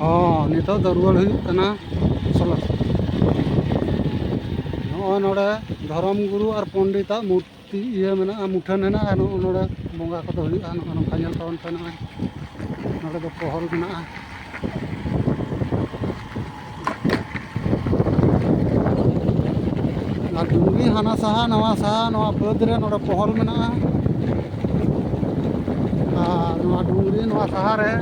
ᱦᱚᱸ ᱱᱤᱛᱚᱜ ᱫᱚ ᱨᱩᱣᱟᱹᱲ ᱦᱩᱭᱩᱜ ᱠᱟᱱᱟ ᱥᱚᱞᱚ ᱱᱚᱜᱼᱚᱭ ᱱᱚᱰᱮ ᱫᱷᱚᱨᱚᱢ ᱜᱩᱨᱩ ᱟᱨ ᱯᱚᱱᱰᱤᱛᱟᱜ ᱢᱩᱨᱛᱤ ᱤᱭᱟᱹ ᱢᱮᱱᱟᱜᱼᱟ ᱢᱩᱴᱷᱟᱹᱱ ᱦᱮᱱᱟᱜᱼᱟ ᱱᱚᱜᱼᱚ ᱱᱚᱰᱮ ᱵᱚᱸᱜᱟ ᱠᱚᱫᱚ ᱦᱩᱭᱩᱜᱼᱟ ᱱᱚᱜᱼᱚ ᱱᱚᱝᱠᱟ ᱧᱮᱞ ᱛᱟᱵᱚᱱ ᱯᱮ ᱱᱚᱜᱼᱚᱭ ᱱᱚᱰᱮ ᱫᱚ ᱯᱚᱦᱚᱞ ᱢᱮᱱᱟᱜᱼᱟ ᱟᱨ ᱰᱩᱝᱜᱤ ᱦᱟᱱᱟ ᱥᱟᱦᱟ ᱱᱟᱣᱟ ᱥᱟᱦᱟ ᱱᱚᱣᱟ ᱵᱟᱹᱫᱽ ᱨᱮ ᱱᱚᱰᱮ ᱯᱚᱦᱚᱞ ᱢᱮᱱᱟᱜᱼᱟ ᱟᱨ ᱱᱚᱣᱟ ᱰᱩᱝᱜᱤ ᱱᱚᱣᱟ ᱥᱟᱦᱟ ᱨᱮ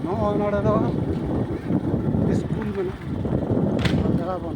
ᱱᱚᱜᱼᱚᱭ ᱱᱚᱰᱮ ᱫᱚ ᱥᱠᱩᱞ ᱢᱮᱱᱟᱜᱼᱟ ᱡᱟᱦᱟᱸ ᱵᱚᱱ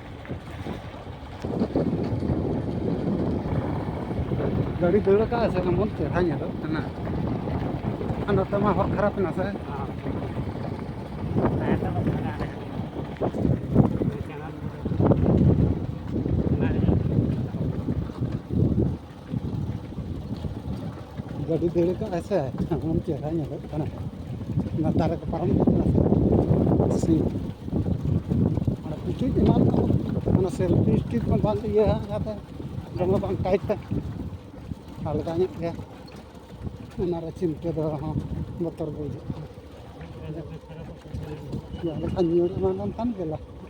ᱜᱟᱹᱰᱤ ᱫᱟᱹᱲ ᱟᱠᱟᱫᱼᱟ ᱥᱮ ᱮᱢᱚᱱ ᱪᱮᱦᱨᱟ ᱧᱮᱞᱚᱜ ᱠᱟᱱᱟ ᱟᱨ ᱱᱚᱛᱮ ᱢᱟ ᱦᱚᱨ ᱠᱷᱟᱨᱟᱯ ᱮᱱᱟ ᱥᱮ ᱜᱟᱹᱰᱤ ᱫᱟᱹᱲ ᱠᱟᱜ ᱟᱭ ᱥᱮ ᱮᱢᱚᱱ ᱪᱮᱦᱨᱟ ᱧᱮᱞᱚᱜ ᱠᱟᱱᱟ ᱚᱱᱟ ᱫᱟᱨᱮ ᱠᱚ ᱯᱟᱨᱚᱢ ᱤᱫᱤᱜ ᱠᱟᱱᱟ ᱥᱮ ᱚᱱᱟ ᱯᱩᱪᱩᱡ ᱮᱢᱟᱱ ᱠᱚ ᱚᱱᱟ ᱥᱮᱞᱯᱷᱤ ᱥᱴᱤᱠ ᱦᱚᱸ ᱵᱟᱝ ᱤᱭᱟᱹ ᱠᱟᱛᱮ ᱫᱚᱢᱮ ᱵᱟᱝ ᱴᱟᱭᱤᱴ ᱛᱮ ᱟᱞᱜᱟ ᱧᱚᱜ ᱜᱮ ᱚᱱᱟᱨᱮ ᱪᱤᱱᱛᱟᱹ ᱫᱚ ᱦᱚᱸ ᱵᱚᱛᱚᱨ ᱜᱮ ᱵᱩᱡᱷᱟᱹᱜ ᱠᱟᱱᱟ ᱡᱟᱦᱟᱸ ᱞᱮᱠᱟ ᱧᱩᱨ ᱮᱢᱟᱱ ᱞᱮᱱᱠᱷᱟᱱ ᱜᱮ ᱞᱟᱥᱴᱤᱝ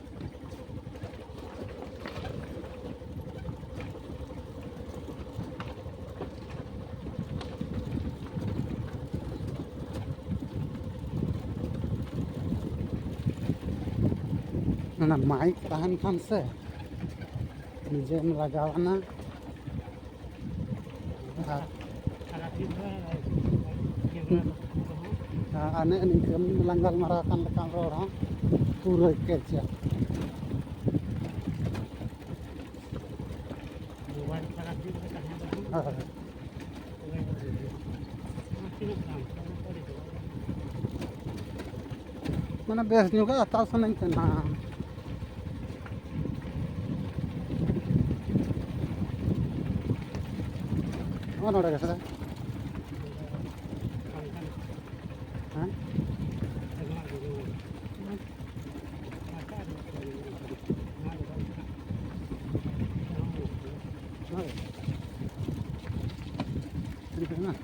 ᱚᱱᱟ ᱢᱟᱭᱤᱠ ᱛᱟᱦᱮᱱ ᱠᱷᱟᱱ ᱥᱮ ᱱᱤᱡᱮᱢ ᱞᱟᱜᱟᱣ ᱮᱱᱟ ᱟᱨ ᱟᱨ ᱱᱮᱜᱼᱮ ᱱᱤᱝᱠᱟᱹ ᱞᱟᱝ ᱜᱟᱞᱢᱟᱨᱟᱣ ᱠᱟᱱ ᱞᱮᱠᱟᱱ ᱨᱚᱲ ᱦᱚᱸ ᱯᱩᱨᱟᱹ ᱠᱮᱪᱟ ᱢᱟᱱᱮ ᱵᱮᱥ ᱧᱚᱜ ᱦᱟᱛᱟᱣ ᱥᱟᱱᱟᱧ ᱠᱟᱱᱟ ᱱᱚᱜᱼᱚ ᱱᱚᱰᱮ ᱜᱮ ᱥᱮ Thank you.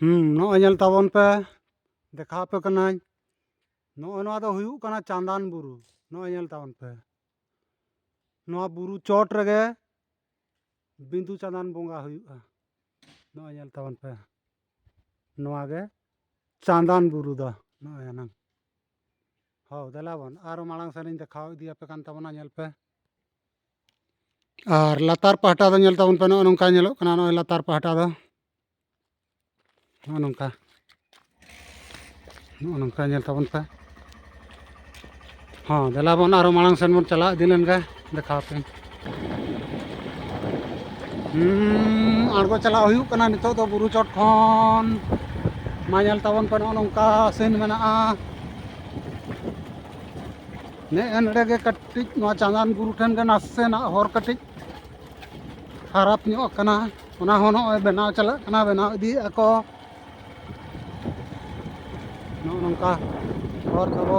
ᱦᱩᱸ ᱱᱚᱜᱼᱚᱭ ᱧᱮᱞ ᱛᱟᱵᱚᱱ ᱯᱮ ᱫᱮᱠᱷᱟᱣ ᱟᱯᱮ ᱠᱟᱹᱱᱟᱹᱧ ᱱᱚᱜᱼᱚᱭ ᱱᱚᱣᱟ ᱫᱚ ᱦᱩᱭᱩᱜ ᱠᱟᱱᱟ ᱪᱟᱸᱫᱟᱱ ᱵᱩᱨᱩ ᱱᱚᱜᱼᱚᱭ ᱧᱮᱞ ᱛᱟᱵᱚᱱ ᱯᱮ ᱱᱚᱣᱟ ᱵᱩᱨᱩ ᱪᱚᱴ ᱨᱮᱜᱮ ᱵᱤᱸᱫᱩ ᱪᱟᱸᱫᱟᱱ ᱵᱚᱸᱜᱟ ᱦᱩᱭᱩᱜᱼᱟ ᱱᱚᱜᱼᱚᱭ ᱧᱮᱞ ᱛᱟᱵᱚᱱ ᱯᱮ ᱱᱚᱣᱟ ᱜᱮ ᱪᱟᱸᱫᱟᱱ ᱵᱩᱨᱩ ᱫᱚ ᱱᱚᱜᱼᱚᱭ ᱮᱱᱟᱝ ᱦᱳ ᱫᱮᱞᱟ ᱵᱚᱱ ᱟᱨᱚ ᱢᱟᱲᱟᱝ ᱥᱮᱱ ᱤᱧ ᱫᱮᱠᱷᱟᱣ ᱤᱫᱤᱭᱟᱯᱮ ᱠᱟᱱ ᱛᱟᱵᱚᱱᱟ ᱧᱮᱞ ᱯᱮ ᱟᱨ ᱞᱟᱛᱟᱨ ᱯᱟᱦᱴᱟ ᱫᱚ ᱧᱮᱞ ᱛᱟᱵᱚᱱ ᱯᱮ ᱱᱚᱜᱼᱚᱭ ᱱᱚᱝᱠᱟ ᱧᱮᱞᱚᱜ ᱠᱟᱱᱟ ᱱᱚᱜᱼᱚᱭ ᱞᱟᱛᱟᱨ ᱯᱟᱦᱴᱟ ᱫᱚ ᱱᱚᱜᱼᱚ ᱱᱚᱝᱠᱟ ᱱᱚᱜᱼᱚ ᱱᱚᱝᱠᱟ ᱧᱮᱞ ᱛᱟᱵᱚᱱ ᱯᱮ ᱦᱚᱸ ᱫᱮᱞᱟ ᱵᱚᱱ ᱟᱨᱚ ᱢᱟᱲᱟᱝ ᱥᱮᱱ ᱵᱚᱱ ᱪᱟᱞᱟᱣ ᱤᱫᱤ ᱞᱮᱱ ᱜᱮ ᱫᱮᱠᱷᱟᱣ ᱯᱮ ᱟᱬᱜᱚ ᱪᱟᱞᱟᱣ ᱦᱩᱭᱩᱜ ᱠᱟᱱᱟ ᱱᱤᱛᱚᱜ ᱫᱚ ᱵᱩᱨᱩ ᱪᱚᱴ ᱠᱷᱚᱱ ᱢᱟ ᱧᱮᱞ ᱛᱟᱵᱚᱱ ᱯᱮ ᱱᱚᱜᱼᱚ ᱱᱚᱝᱠᱟ ᱥᱮᱱ ᱢᱮᱱᱟᱜᱼᱟ ᱱᱮᱜᱼᱮ ᱱᱚᱰᱮ ᱜᱮ ᱠᱟᱹᱴᱤᱡ ᱱᱚᱣᱟ ᱪᱟᱸᱫᱟᱱ ᱵᱩᱨᱩ ᱴᱷᱮᱱ ᱜᱮ ᱱᱟᱥᱮᱱᱟᱜ ᱦᱚᱨ ᱠᱟᱹᱴᱤᱡ ᱠᱷᱟᱨᱟᱯ ᱧᱚᱜ ᱟᱠᱟᱱᱟ ᱚᱱᱟ ᱦᱚᱸ ᱱᱚᱜᱼᱚᱭ ᱵᱮᱱᱟᱣ ᱪᱟᱞᱟᱜ ᱠᱟᱱᱟ ᱵᱮᱱᱟᱣ ᱤᱫᱤᱭᱮᱫᱼᱟ ᱠᱚ ᱱᱚᱜᱼᱚ ᱱᱚᱝᱠᱟ ᱦᱚᱨ ᱛᱟᱵᱚ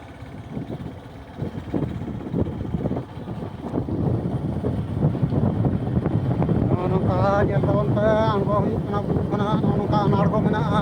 ᱱᱚᱜᱼᱚ ᱱᱚᱝᱠᱟ ᱧᱮᱞ ᱛᱟᱵᱚᱱ ᱯᱮ ᱟᱬᱜᱚ ᱦᱩᱭᱩᱜ ᱠᱟᱱᱟ ᱵᱩᱨᱩ ᱠᱷᱚᱱᱟᱜ ᱱᱚᱜᱼᱚ ᱱᱚᱝᱠᱟ ᱟᱬᱜᱚ ᱢᱮᱱᱟᱜᱼᱟ